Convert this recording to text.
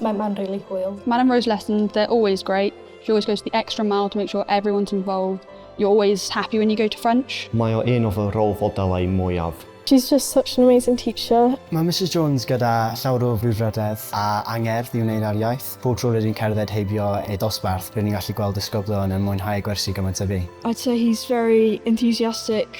Mae mae'n really hwyl. Madam Rose lessons, they're always great. She always goes the extra mile to make sure everyone's involved. You're always happy when you go to French. Mae o un o fy rôl fodelau mwyaf. She's just such an amazing teacher. Mae Mrs Jones gyda llawr o frwdfrydedd a angerdd i wneud â'r iaith. Pob tro rydyn cerdded heibio ei dosbarth, rydyn ni'n gallu gweld disgyblion yn mwynhau gwersi gymaint a fi. I'd say he's very enthusiastic.